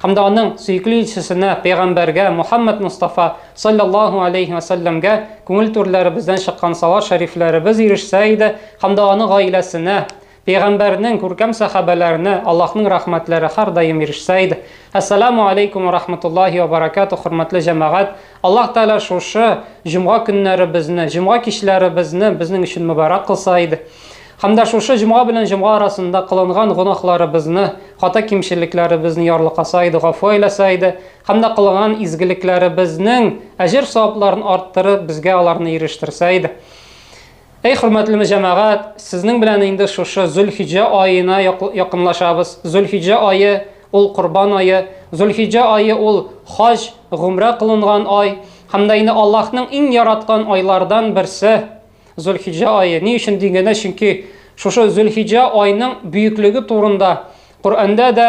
һәм дә аның сөекле илчесенә, пәйгамбәргә Мухаммад Мустафа саллаллаһу алейхи ва сәлләмгә күңел түрләребездән чыккан салават шәрифләребез ирешсә иде һәм дә аның гаиләсенә, пәйгамбәрнең күркәм сәхабәләренә Аллаһның рәхмәтләре һәрдаим ирешсә иде. Әссәламү алейкүм ва рахматуллаһи ва баракатуһ, хөрмәтле җәмәгать! Аллаһ Тәгалә шушы җомга көннәребезне, җомга кичләребезне безнең өчен мөбарәк кылса иде. Һәм дә шушы җомга белән җомга арасында кылынган гөнаһларыбызны, хата-кимчелекләребезне ярлыкаса иде, гафу әйләсә иде. Һәм дә кылынган изгелекләребезнең әҗер-савапларын арттырып, безгә аларны ирештерсә иде. Әй хөрмәтле җәмәгать, сезнең белән инде шушы Зөлхиҗә аена якынлашабыз. Зөлхиҗә ае, ул корбан ае. Зөлхиҗә ае ул хаҗ, гомрә кылынган ай. Һәм дә инде Аллаһның иң яраткан айлардан берсе Зөлхиҗә ае. Ни өчен дигәндә, чөнки шушы Зөлхиҗә айның бөеклеге турында Коръәндә дә,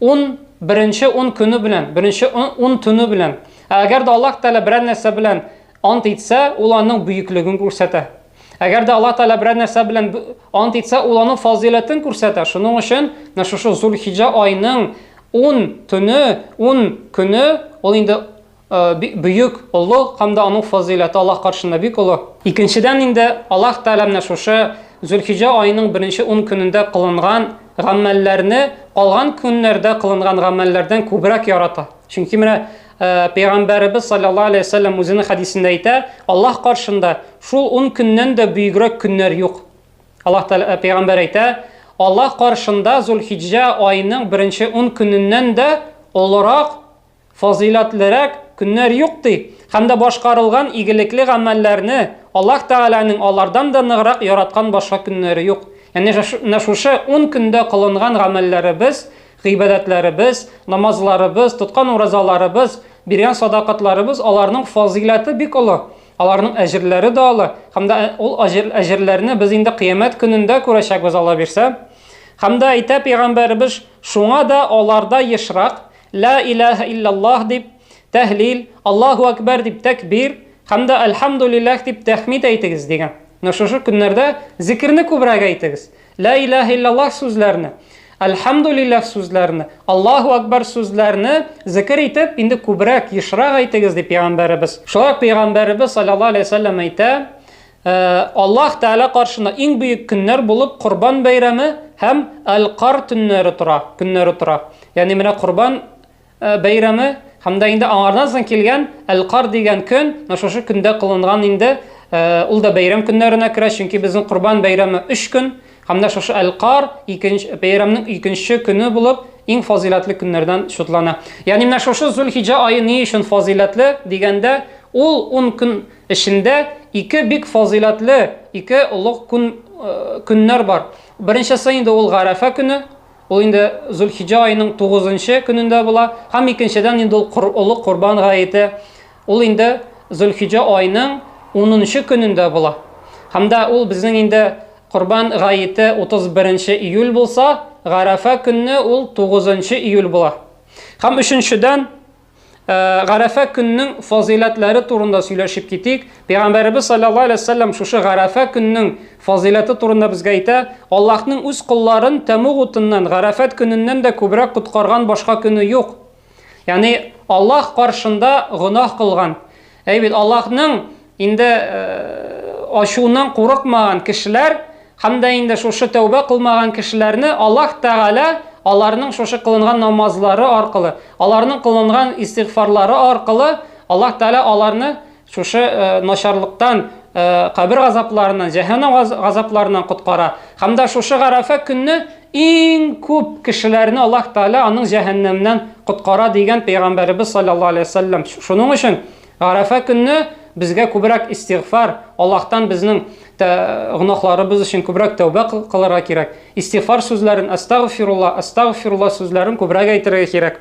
Ун беренче ун көне белән, беренче ун төне белән. Ә әгәр дә Аллаһ Тәгалә берәр нәрсә белән ант итсә, ул аның бөеклеген күрсәтә. Әгәр дә Аллаһ Тәгалә берәр нәрсә белән ант итсә, ул аның фазыйләтен күрсәтә. Шуның өчен менә шушы Зулхиҗа айының 10 төне, 10 көне ул инде бөек, олы һәм дә аның фазыйләте Аллаһ каршында бик олы. Икенчедән инде, Аллаһ Тәгалә менә шушы Зөлхиҗә аеның беренче ун көнендә кылынган гамәлләрне калган көннәрдә кылынган гамәлләрдән күбрәк ярата. Чөнки менә Пәйгамбәребез саллаллаһу алейһи вә сәлләм үзенең хәдисендә әйтә, Аллаһ каршында шул ун көннән дә бөегрәк көннәр юк. Аллаһ Тәгалә Пәйгамбәр әйтә, Аллаһ каршында Зөлхиҗә аеның беренче ун көненнән дә олырак фазыйләтлерәк көннәр юк, ди, һәм дә башкарылган игелекле гамәлләрне Аллаһ Тәгаләнең алардан да ныграк яраткан башка көннәре юк. Янә менә шушы ун көндә кылынган гамәлләребез, гыйбадәтләребез, намазларыбыз, тоткан уразаларыбыз, биргән садакатларыбыз, аларның фазыйләте бик олы, аларның әҗерләре дә олы, һәм дә ул әҗерләрне без инде Кыямәт көнендә күрәчәкбез, Алла бирсә. Һәм дә әйтә Пәйгамбәребез, Шуңа да аларда ешрак, Ла илаһа илляллаһ дип тәһлил, Аллаһу әкбәр дип тәкбир һәм дә Әлхәмдүлилләһ дип тәхмид әйтегез, дигән. Менә шушы көннәрдә зикерне күбрәк әйтегез. Ла илаһа илляллаһ сүзләрне, Әлхәмдүлилләһ сүзләрне, Аллаһу әкбәр сүзләрне зикер итеп, инде күбрәк, ешрак әйтегез, дип пәйгамбәребез. Шулай ук пәйгамбәребез салләллаһу галәйһи ва сәлләм әйтә, Ә, Аллаһ Тәгалә каршына иң бөек көннәр булып Корбан бәйрәме һәм Әл-Кар төннәре тора, көннәре тора. Ягъни менә Корбан э, бәйрәме һәм дә инде аңардан соң килгән Әл-Кар дигән көн, менә шушы көндә кылынган инде, э, ул да бәйрәм көннәренә керә, чөнки безнең Корбан бәйрәме 3 көн, һәм дә шушы Әл-Кар икенче бәйрәмнең икенче көне булып иң фазыйләтле көннәрдән шутлана. Ягъни менә шушы Зулхиҗа ае ни өчен фазыйләтле дигәндә, ул 10 көн Эчендә ике бик фазыйләтле, ике олуг күн, көннәр бар. Беренчесе инде ул Гарәфә көне, ул инде Зулхиҗа аеның тугызынчы көнендә була, һәм икенчедән инде ул кор, олуг Корбан гаете, ул инде Зулхиҗа аеның унынчы көнендә була. Һәм дә ул безнең инде Корбан гаете утыз беренче июль булса, Гарәфә көнне ул тугызынчы июль була. Һәм өченчедән, Э, гарәфә көннең фазыйләтләре турында сөйләшеп китик. Пәйгамбәребез саллаллаһу алейһи вәсәлләм шушы гарәфә көннең фазыйләте турында безгә әйтә, Аллаһның үз кулларын тәмуг утыннан, гарәфәт көненнән дә күбрәк коткарган башка көне юк. Ягъни Аллаһ каршында гөнаһ кылган, Әй бит Аллаһның инде ачуыннан курыкмаган кешеләр һәм дә инде шушы тәүбә кылмаган кешеләрне Аллаһ Тәгалә аларның шушы кылынган намазлары аркылы, аларның кылынган истигъфарлары аркылы Аллаһ Тәгалә аларны шушы начарлыктан, кабер газапларыннан, җәһәннәм газапларыннан коткара. Һәм дә шушы Гарәфә көнне Иң күп кешеләрне Аллаһ Тәгалә аның җәһәннәмнән коткара, дигән пәйгамбәребез салләллаһу галәйһи ва сәлләм. Шуның өчен Гарәфә көнне безгә күбрәк истигъфар, Аллаһтан безнең гөнаһларыбыз өчен күбрәк тәүбә кылырга кирәк. Истигъфар сүзләрен, Әстәгъфирулла, Әстәгъфирулла сүзләрен күбрәк әйтергә кирәк.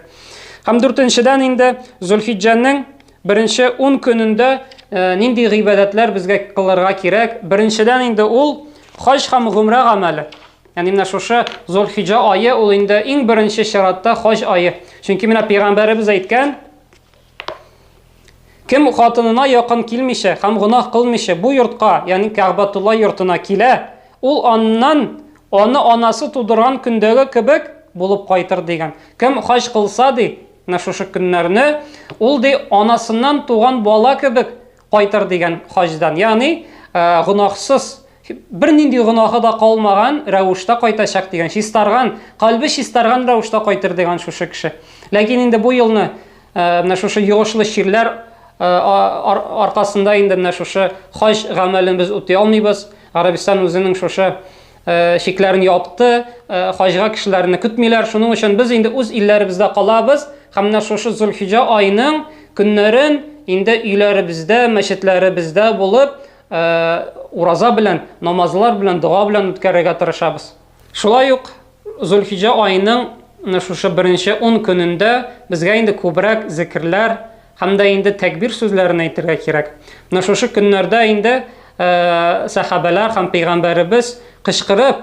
Һәм дүртенчедән инде Зөлхиҗҗәнең беренче ун көнендә нинди гыйбадәтләр безгә кылырга кирәк? Беренчедән инде ул хаҗ һәм гомрә гамәле. Ягъни менә шушы Зулхиҗа ае ул инде иң беренче чиратта хаҗ ае. Чөнки менә пәйгамбәребез әйткән, кем хатынына якын килмичә һәм гунах кылмыйча бу йортка, ягъни Кәгъбатулла йортына килә, ул аннан аны анасы тудырган көндәге кебек булып кайтыр дигән. Кем хаҗ кылса ди, менә шушы көннәрне, ул ди анасыннан туган бала кебек Кайтыр дигән хаҗдан, ягъни гөнаһсыз бернинди гөнаһы да калмаган рәвештә кайтачак дигән чистарган калбе чистарган рәвештә кайтыр дигән шушы кеше ләкин инде бу елны э, менә шушы йогышлы чирләр э, аркасында инде менә шушы хаҗ гамәлен без үти алмыйбыз гарәбстан үзенең шушы Э, шикләрен япты, э, хаҗга кешеләрне көтмиләр. Шуның өчен без инде үз илләребездә калабыз һәм менә шушы Зулхиҗа айының көннәрен инде өйләребездә, мәчетләребездә булып, э, ураза белән, намазлар белән, дога белән үткәрергә тырышабыз. Шулай ук Зулхиҗа айының шушы беренче 10 көнендә безгә инде күбрәк зикрләр, Һәм дә инде тәкбир сүзләрен әйтергә кирәк. Менә шушы көннәрдә инде сәхабәләр һәм пәйгамбәребез кычкырып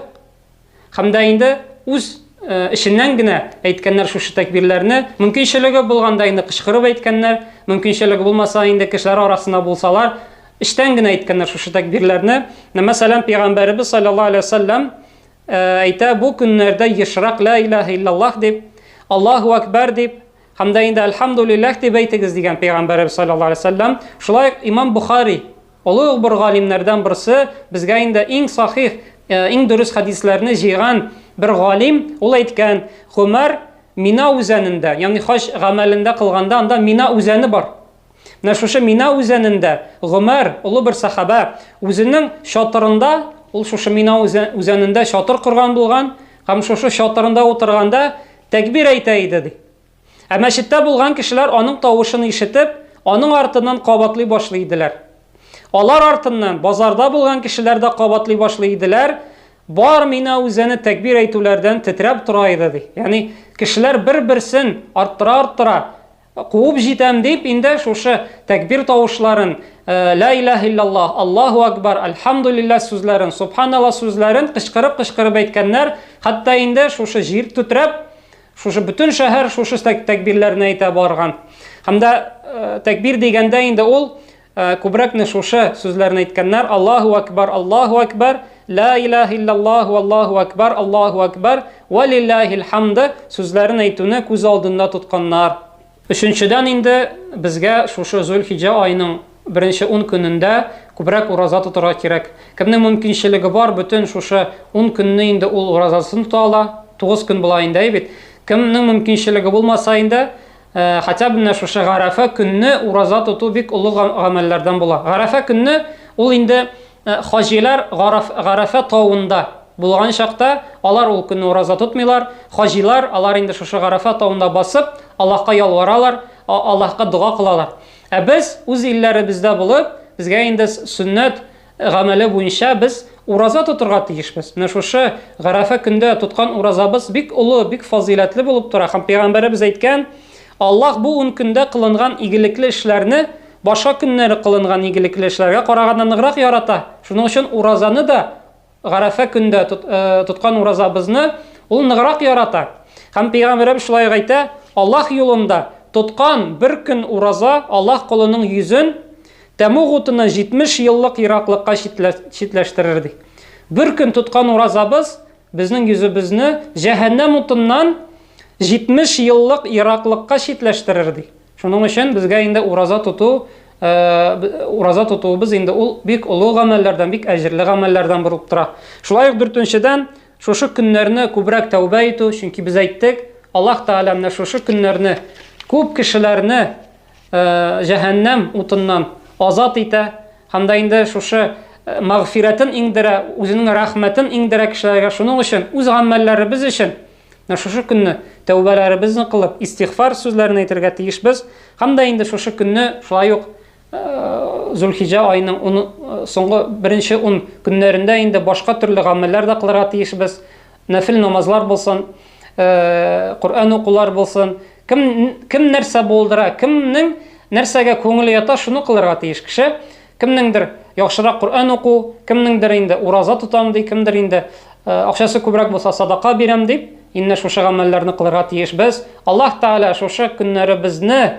һәм дә инде үз эшеннән генә әйткәннәр шушы тәкбирләрне. Мөмкинчелеге булганда инде кычкырып әйткәннәр, мөмкинчелеге булмаса инде кешеләр арасында булсалар, эштән генә әйткәннәр шушы тәкбирләрне. Мәсәлән, пәйгамбәребез саллаллаһу алейһи ва саллям әйтә, бу көннәрдә ешрак ла илаһа иллаллаһ дип, Аллаһу акбар дип Һәм дә инде Әлхәмдулиллах дип әйтегез дигән пәйгамбәребез саллаллаһу алейһи вәсәлләм. Шулай ук Имам Бухари, олы ук бер галимнәрдән берсе, безгә инде иң сахих, э, иң дөрес хәдисләрне җыйган бер галим, ул әйткән, Гомәр Мина үзәнендә, ягъни хаҗ гамәлендә кылганда анда Мина үзәне бар. Менә шушы Мина үзәнендә Гомәр, олы бер сахаба, үзенең чатырында, ул шушы Мина үзәнендә чатыр корган булган, һәм шушы чатырында утырганда тәкбир әйтә иде ди. Ә мәчеттә булган кешеләр аның тавышын ишетеп, аның артыннан кабатлый башлый иделәр. Алар артыннан базарда булган кешеләр дә кабатлый башлый иделәр. Бар Мина үзәне тәкбир әйтүләрдән тетрәп тора иде ди. Ягъни кешеләр бер-берсен арттыра-арттыра Куып җитәм дип инде шушы тәкбир тавышларын, ла илаһ иллаллаһ, Аллаһу акбар, альхамдулиллаһ сүзләрен, субханалла сүзләрен кычкырып-кычкырып әйткәннәр. Хәтта инде шушы җир төтрәп, шушы бөтен шәһәр шушы тәкбирләрне әйтә барган. Һәм дә тәкбир дигәндә инде ул Э, күбрәк не шушы сүзләрне әйткәннәр аллаху акбар аллаху акбар ла илаха иллаллах аллаху акбар аллаху акбар ва лиллахил хамды сүзләрен әйтүне күз алдында тотканнар өченчедән инде безгә шушы зөлхиҗа айының беренче ун көнендә күбрәк ураза тотырга кирәк кемнең мөмкинчелеге бар бөтен шушы ун көнне инде ул уразасын тота ала тугыз көн була инде бит кемнең мөмкинчелеге булмаса инде Э, хотя бы менә шушы гарәфә көнне ураза тоту бик олы гамәлләрдән була. Гарәфә көнне ул инде э, хаҗилар гарәфә тавында булган чакта алар ул көнне ураза тотмыйлар. Хаҗилар алар инде шушы гарәфә тавында басып, Аллаһка ялваралар, Аллаһка дога кылалар. Ә без үз илләребездә булып, безгә инде сөннәт гамәле буенча без ураза тотырга тиешбез. Менә шушы гарәфә көндә тоткан уразабыз бик олы, бик фазыйләтле булып тора. Һәм пәйгамбәребез әйткән, Аллаһ бу ун көндә кылынган игелекле эшләрне башка көннәре кылынган игелекле эшләргә караганда ныграк ярата. Шуның өчен уразаны да гарәфә көндә тот, э, тоткан уразабызны ул ныграк ярата. Һәм пәйгамбәребез шулай әйтә, Аллаһ юлында тоткан бер көн ураза Аллаһ колының йөзен Тәмуг утыны 70 еллык ераклыкка читләштерер, ди. Бер көн тоткан уразабыз безнең йөзебезне җәһәннәм утыннан 70 еллык ераклыкка читләштерер, ди. Шуның өчен безгә инде ураза тоту, ураза тотуыбыз инде ул бик олы гамәлләрдән, бик әҗерле гамәлләрдән булып тора. Шулай ук дүртенчедән, шушы көннәрне күбрәк тәүбә итү, чөнки без әйттек, Аллаһ Тәгалә менә шушы көннәрне күп кешеләрне җәһәннәм утыннан азат итә һәм дә инде шушы э, мәгъфирәтен иңдерә, үзенең рәхмәтен иңдерә кешеләргә. Шуның өчен үз гамәлләребез өчен шушы көнне тәүбәләребезне кылып, истигъфар сүзләрен әйтергә тиешбез. Һәм дә инде шушы көнне шулай ук э, Зулхиҗа айының э, соңгы беренче ун көннәрендә инде башка төрле гамәлләр дә кылырга тиешбез. Нәфил намазлар булсын, э, Коръән укулар булсын, кем кем нәрсә булдыра, кемнең нәрсәгә күңеле ята, шуны кылырга тиеш кеше. Кемнеңдер яхшырак Коръән уку, кемнеңдер инде ураза тотам ди, кемдер инде э, акчасы күбрәк булса садака бирәм дип, инде шушы гамәлләрне кылырга тиеш без. Аллаһ Тааля шушы көннәребезне